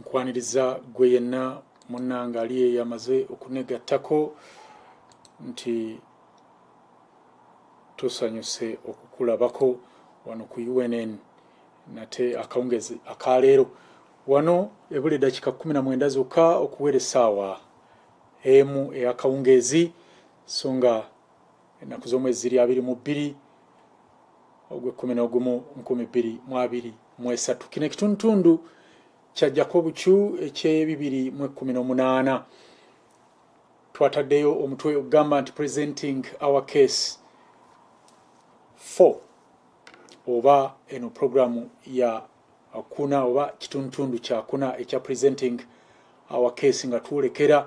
nkwaniriza gwe yenna munnanga ali eyamaze okunegattako nti tusanyuse okukulabako wano ku unn nate akawungezi akaleero wano ebula eddakiika kumi na mwenda zokka okuweera essaawa emu eyakawungeezi so nga ennaku z'omwezi ziri abiri mu bbiri ogw'ekkumi n'ogumu nkumi bbiri mu abiri mu esatu kino ekitundutundu kyajjako obukyu eky'ebibiri mu ekkumi n'omunaana twataddeyo omutwe ogugamba nti presenting our case four oba eno programu ya kuna oba kitundutundu kyakuna ekya presenting our case nga twolekera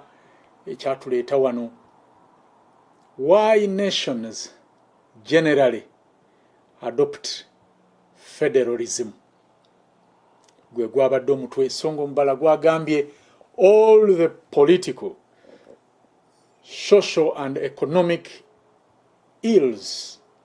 ekyatuleeta wano Why nations generally adopt federalism gwe gwabadde omutwe songa omubala gwagambye all the political social and economic ills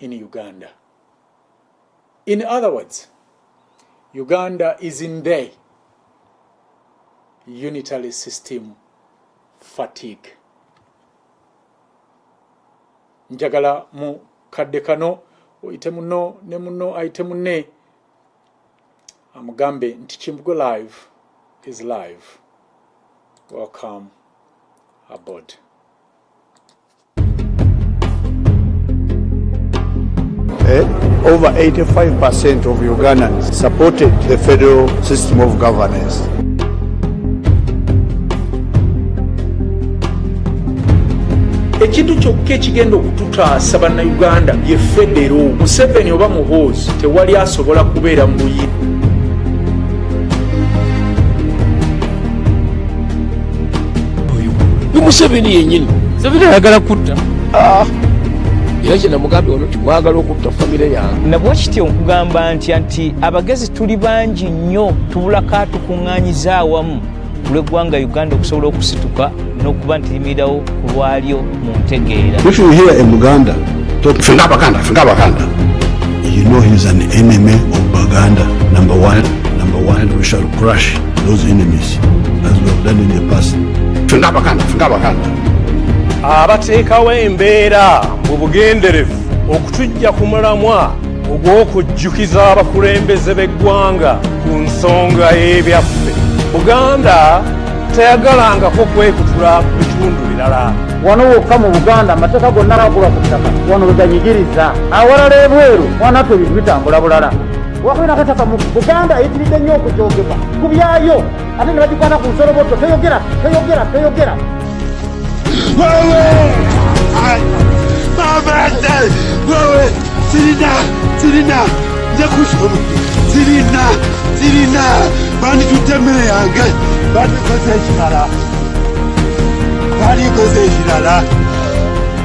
in Uganda. In other words, Uganda is in the unitary system fatigue. Njagala mu kadde kano oyite muno ne muno ayite munne amugambe nti kimbugo live is live welcome aboard Eh? Over 85% of Ugandans supported the federal system of governance. ekintu kyokka ekigenda okututaasa bannayuganda ye federo museveni oba muhoozi tewali asobola kubeera mu buyini ni museveni yenyini museveni ayagala kutta ah. era kye namugambye ono timwagala okutta famire yange nabwe kityo nkugamba nti nti abagezi tuli bangi nnyo tubulako atukuŋŋanyiza awamu kulweggwanga uganda okusobola okusituka n'okuba nti limirawo ku lwalyo mu ntegeera fenga abaganda fenga abaganda you know he's an enemy of baganda number one number one we shall crush those enemies as we have done in the past. Fenga bakanda, fenga bakanda. Abateekawo embeera mu bugenderevu okutujja ku mulamwa ogw'okujjukiza abakulembeze b'eggwanga ku nsonga y'ebyaffe. Buganda teyagalangako kwekutula ku bitundu birala. Wano wokka mu Buganda amateeka gonna gakulwa ku ttaka wano we ganyigiriza. Awalala ebweru wanaffe ebintu bitambula bulala. wakuba nakataka mu buganda eyitiridde nnyo okujogeba ku byayo ate ne bagikwana ku nsoloboto teyogera teyogera teyogera sirina sirina nze kusoma sirina sirina banditutte emmere yange bandikoze ekirala bandikoze ekirala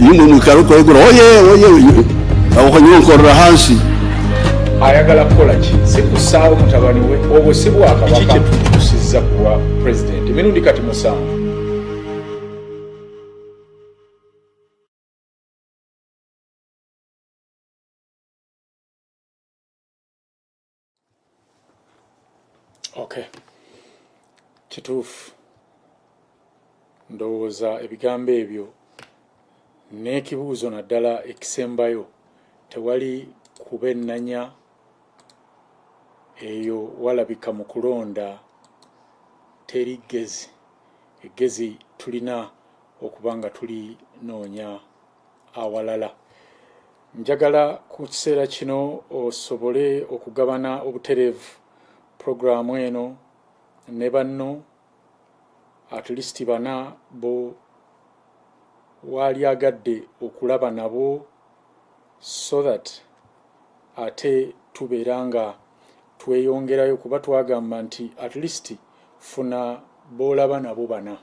iyo umuntu wikara uko yegura oye oye abakanye bakorera hansi ayagala kukola ki si kusaawo mutabani we obwo si bwakabaka kyetutusiza kuwa pulezidenti emirundi kati musanvu okay kituufu ndowooza ebigambo ebyo n'ekibuuzo naddala ekisembayo tewali kuba ennanya eyo walabika mu kulonda teri ggezi eggezi tulina okuba nga tulinoonya awalala njagala ku kiseera kino osobole okugabana obutereevu pulogulaamu eno ne banno at least bana bo waalyagadde okulaba nabo so that ate tubeera nga tweyongerayo kuba twagamba nti at least funa boolaba nabo bana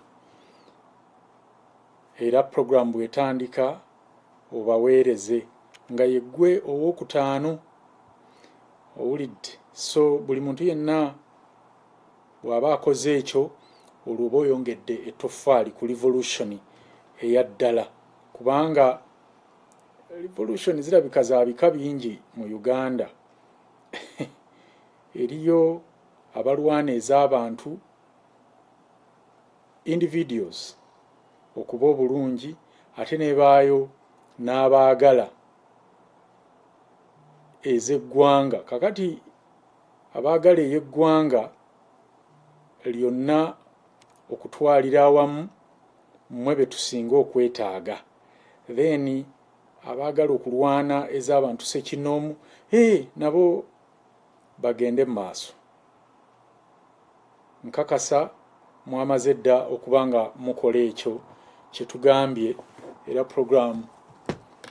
Era pulogulaamu bw'etandika obaweereze nga ye ggwe ow'okutaano owulidde so buli muntu yenna bw'aba akoze ekyo olwo oba oyongedde ettoffaali ku revolution eya ddala kubanga revolution zirabika za bika bingi mu uganda eriyo abalwana ez'abantu individuals okuba obulungi ate nebaayo n'abaagala ez'eggwanga kakati abaagala ey'eggwanga lyonna okutwalira awamu mmwe be tusinga okwetaaga then abaagala okulwana ez'abantu sekinoomu hey, nabo bagende mu maaso. Nkakasa mwamaze dda okuba nga mukola ekyo kye tugambye era puroguraamu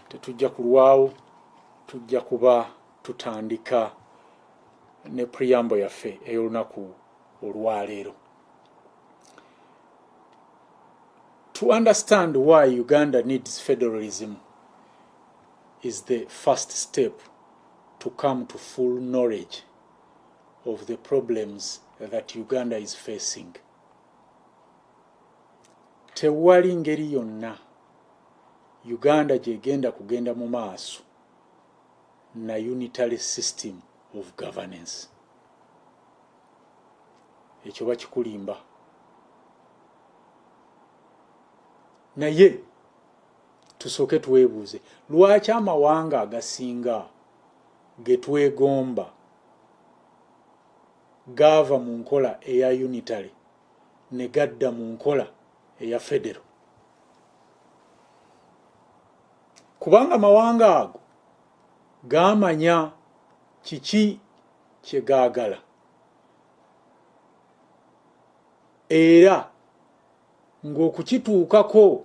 tetujja kulwawo tujja kuba tutandika ne puriyambo yaffe ey'olunaku olwaleero. To understand why Uganda needs federalism is the first step to come to full knowledge of the problems that Uganda is facing. Tewali ngeri yonna Uganda gyegenda kugenda mu maaso na unitary system of governance. Ekyo bakikulimba. Naye tusooke twebuuze lwaki amawanga agasinga ge twegomba gaava mu nkola eya unitary ne gadda mu nkola eya federo kubanga amawanga ago gaamanya kiki kye gaagala era ng'okukituukako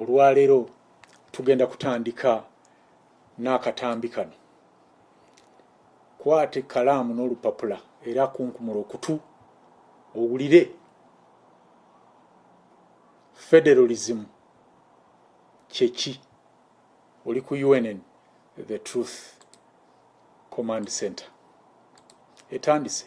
olwaleero tugenda kutandika n'akatambi kano kwata ekkalaamu n'olupapula era kunkumula okutu owulire federalism kyeki oli ku unn the truth command center etandise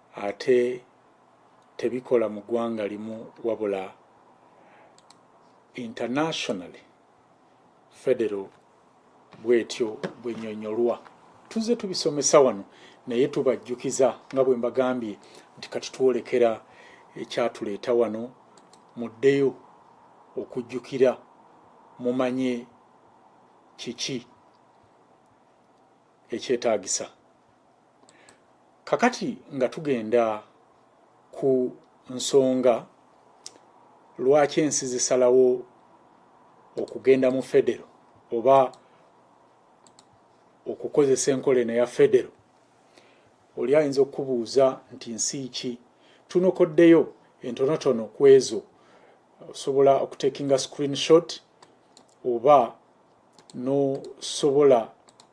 ate tebikola mu ggwanga limu wabula internationally federal bwetyo bwenyonyolwa tuze tubisomesa wano naye tubajjukiza nga bwe mbagambye nti kati twolekera ekyatuleeta wano muddeyo okujjukira mumanye kiki ekyetaagisa kakati nga tugenda ku nsonga lwaki ensi zisalawo okugenda mu federo oba okukozesa enkola eno ya federo oli ayinza okukubuuza nti nsi ki tunokoddeyo entonotono ku ezo osobola okutekinga screenshot oba nosobola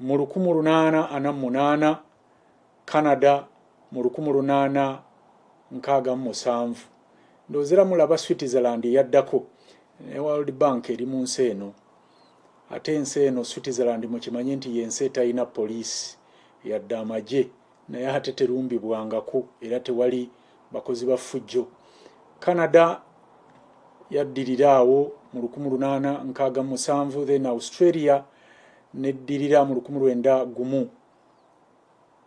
mu lukumu lunaana ana munaana canada mu lukumu lunaana nkaaga mu musanvu ndoozera mulaba switzerland eyaddako ne world bank eri mu nsi eno ate ensi eno switzerland mukimanyi nti yensi etalina poliisi yadde amagye naye ate terumbibwangako era tewali bakozi ba ffujjo canada yaddirira awo mu 1867 then australia neddirira mu 19 gumu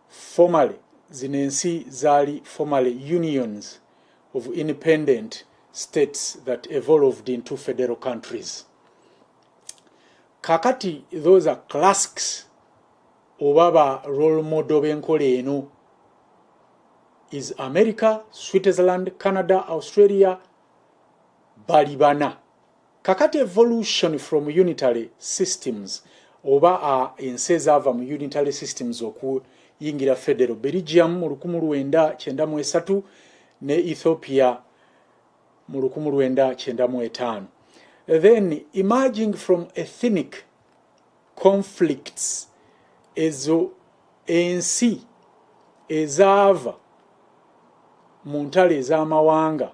formaly zino ensi zaali formaly unions of independent states that evolved into federal countries kakati those are classics oba ba role model b'enkola eno is america switzerland canada australia bali bana kakati evolution from unitary systems oba ensi ezaava mu unitary systems okuyingira federal belgium mu 1993 ne ethiopia mu 1995 then emerging from ethinic conflicts ezo ensi ezaava mu ntalo ez'amawanga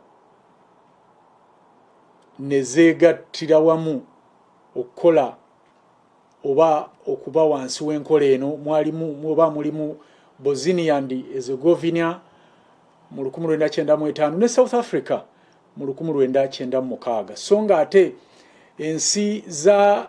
ne zeegattira wamu okukola oba okuba wansi w'enkola eno mwalimu oba mulimu bosnia and ezegovina mu 1995 ne south africa mu 1996 so nga ate ensi za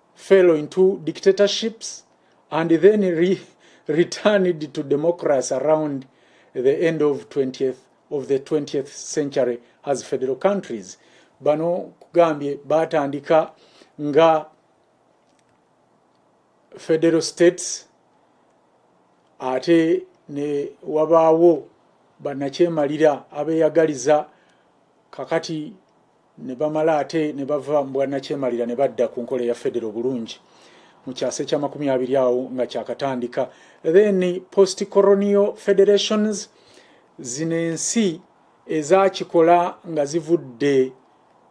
fell into dictatorships and then re returned to democracy around the end of 20th of the 20th century as federal countries bano kugambye batandika nga federal states ate ne wabaawo banakyemalira abeyagaliza kakati ne bamala ate ne bava mu bwannakyemalira ne badda ku nkola eya federo obulungi mu kyasa ekyamakumi abiri awo nga kyakatandika then post coronio federations zino ensi ezakikola nga zivudde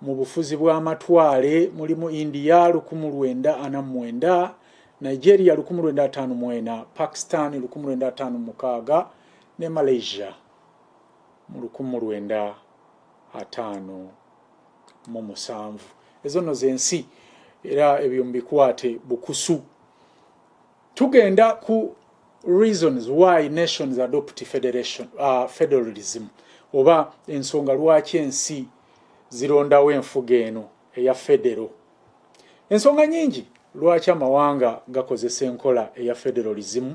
mu bufuzi bw'amatwale mulimu india lukumu lwenda ana mwenda nigeria lukumu lwenda ataano mwena pakistan lukumu lwenda ataano mukaaga ne malaysia mu lukumu lwenda ataano mu musanvu ezo no zensi era ebyo mbikwate bukusu tugenda ku reasons why nations adopt federation uh, federalism oba ensonga lwaki ensi zirondawo enfuga eno eya federo ensonga nyingi lwaki amawanga gakozesa enkola eya federalism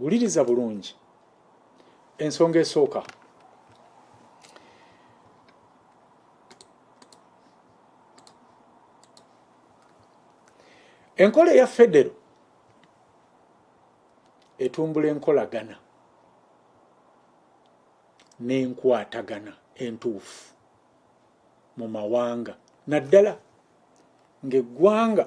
wuliriza bulungi ensonga esooka enkola eya federo etumbula enkolagana n'enkwatagana entuufu mu mawanga naddala ng'eggwanga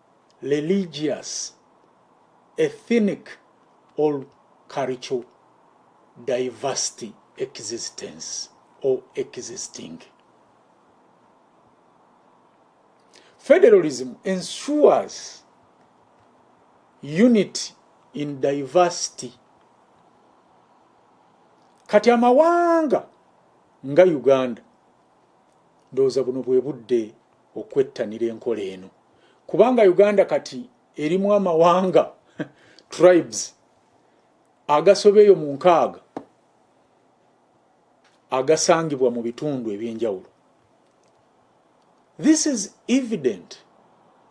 religious, ethnic or cultural diversity existence or existing. Federalism ensures unity in diversity. Kati amawanga nga Uganda ndowooza buno bwe budde okwettanira enkola eno. kubanga uganda kati erimu amawanga tribes agasoba eyo mu nkaaga agasangibwa mu bitundu ebyenjawulo this is evident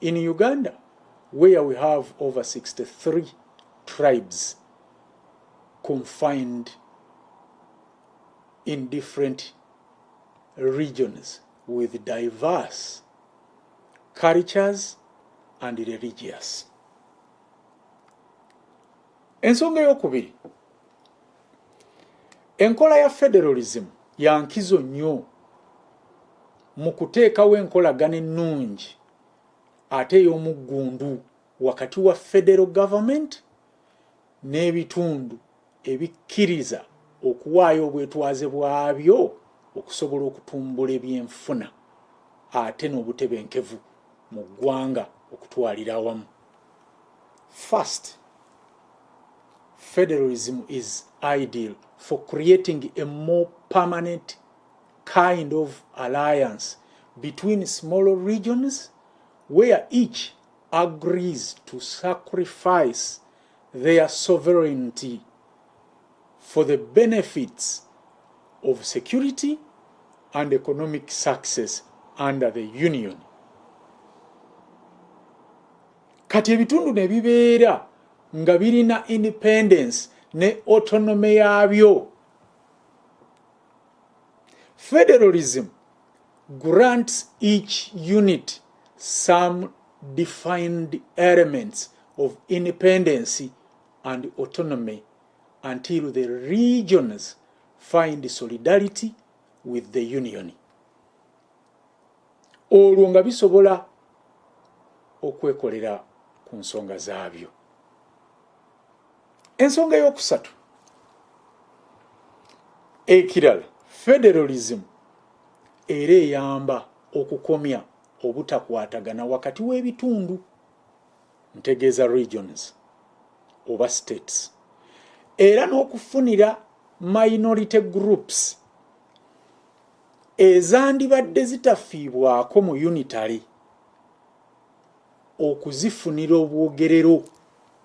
in uganda where we have over 63 tribes confined in different regions with diverse cultures and religious ensonga eyokubiri enkola ya federalism yankizo nnyo mu kuteekawo enkolagana ennungi ate ey'omuggundu wakati wa federal government n'ebitundu ebikkiriza okuwaayo obwetwaze bwabyo okusobola okutumbula ebyenfuna ate n'obutebenkevu mu ggwanga okutwalira awamu first federalism is ideal for creating a more permanent kind of alliance between smaller regions where each agrees to sacrifice their sovereignty for the benefits of security and economic success under the union kati ebitundu ne bibeera nga birina independence ne autonome yaabyo federalism grants each unit some defined elements of independence and autonomy until the regions find solidarity with the union olwo nga bisobola okwekolera ku nsonga zaabyo ensonga eyokusatu ekirala federalism era eyamba okukomya obutakwatagana wakati w'ebitundu ntegeeza regions oba states era n'okufunira minority groups ezandibadde zitafiibwako mu unitary okuzifunira obwogerero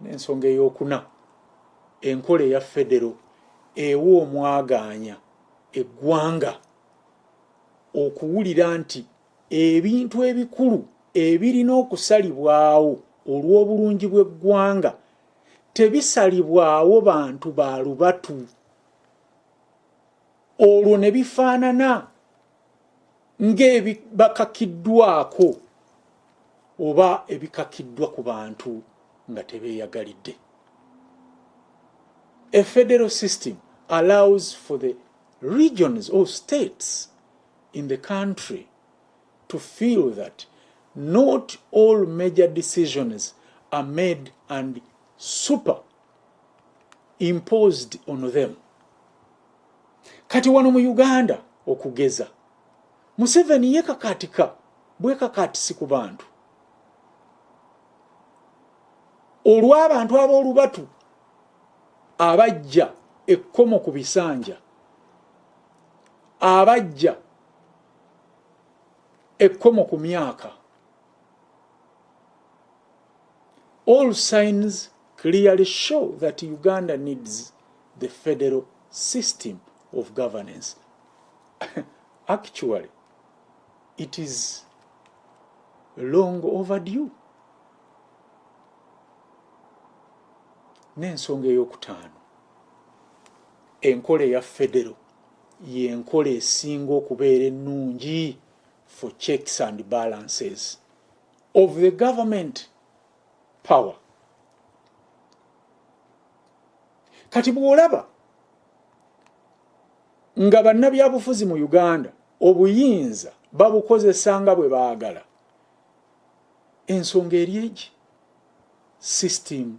n'ensonga eyokuna enkola eya federo ewa omwagaanya eggwanga okuwulira nti ebintu ebikulu ebirina okusalibwawo olw'obulungi bw'eggwanga tebisalibwawo bantu ba lubatu olwo ne bifaanana ng'ebibakakiddwako oba ebikakiddwa ku bantu nga tebeeyagalidde a federal system allows for the regions or states in the country to feel that not all major decisions are made and super imposed on them kati wano mu uganda okugeza museveni yekakatika bwekakatisi ku bantu olw'abantu ab'olubatu abajja ekkomo ku bisanja abajja ekkomo ku myaka All signs clearly show that Uganda needs the federal system of governance. Actually, it is long overdue. N'ensonga ey'okutaano enkola eya federo y'enkola esinga okubeera ennungi for checks and balances. of the government power kati bwolaba nga bannabyabufuzi mu uganda obuyinza babukozesa nga bwe baagala ensonga eri egi system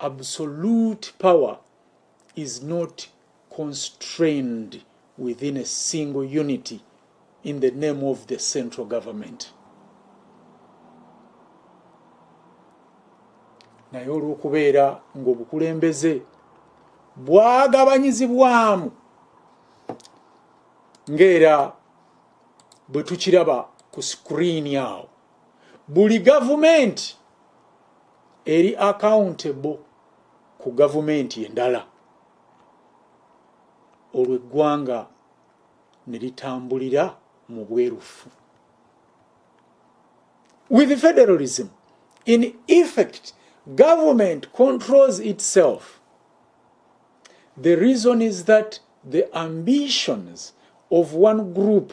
absolute power is not constrained within a single unity in the name of the central government naye olw'okubeera ng'obukulembeze bwagabanyizibwamu ng'era bwe tukiraba ku sikuriini awo buli gavumenti eri accountable ku gavumenti endala olwo eggwanga ne litambulira mu bwerufu with federalism in effect government controls itself the reason is that the ambitions of one group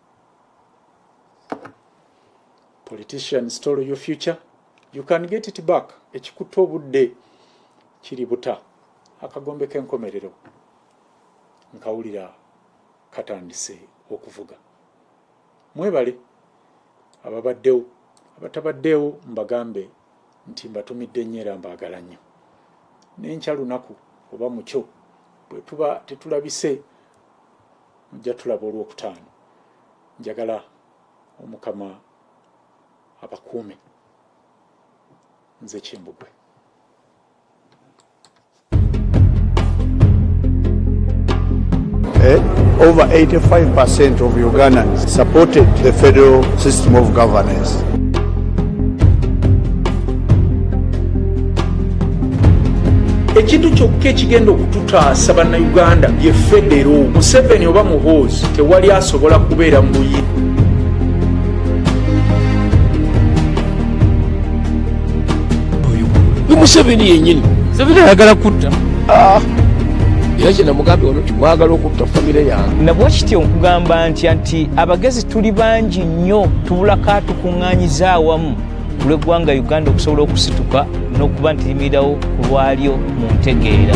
politician stole your future you can get it back ekikutte obudde kiri buta akagombe k'enkomerero nkawulira katandise okuvuga mwebale ababaddewo abatabaddewo mbagambe nti mbatumidde nnyo era mbaagala nnyo nenkya lunaku oba mukyo bwe tuba tetulabise mujja tulaba olwokutaano njagala omukama abakuume nze kimbugwe Eh? Over 85% of Ugandans supported the federal system of governance. ekintu kyokka ekigenda okututaasa bannayuganda bye federo museveni oba muhoozi tewali asobola kubeera mu buyi museveni yenyini museveni ayagala kutta ah. era kye namugambye wano nti mwagala okutta famire yange nabwa kityo nkugamba ntya nti abagezi tuli bangi nnyo tubulako atukuŋŋanyiza awamu kulweggwanga uganda okusobola okusituka n'okuba nti limirirawo ku lwalyo mu ntegeera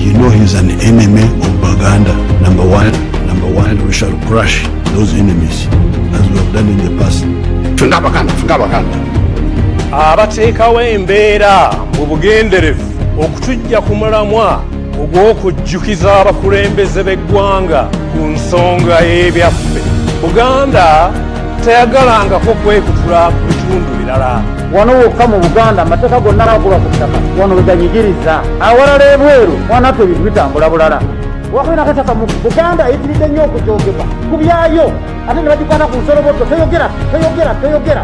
You know he's an enemy of Baganda, number one. Number one, we shall crush those enemies as we have done in the past. Fenga Baganda, Fenga Baganda. Abateekawo embeera mu bugenderevu okutujja ku mulamwa ogw'okujjukiza abakulembeze b'eggwanga ku nsonga y'ebyaffe buganda teyagalangako kwekutula ku bitundu birala wano wokka mu buganda amateeka gonna agula ku ttaka wano weganyigiriza awalala ebweru wanaffe ebintu bitambula bulala wakwena kataka mu buganda eyitiridde nnyo okujogebwa ku byayo ate ne bagikwata ku nsolobotto teyogera teyogera teyogera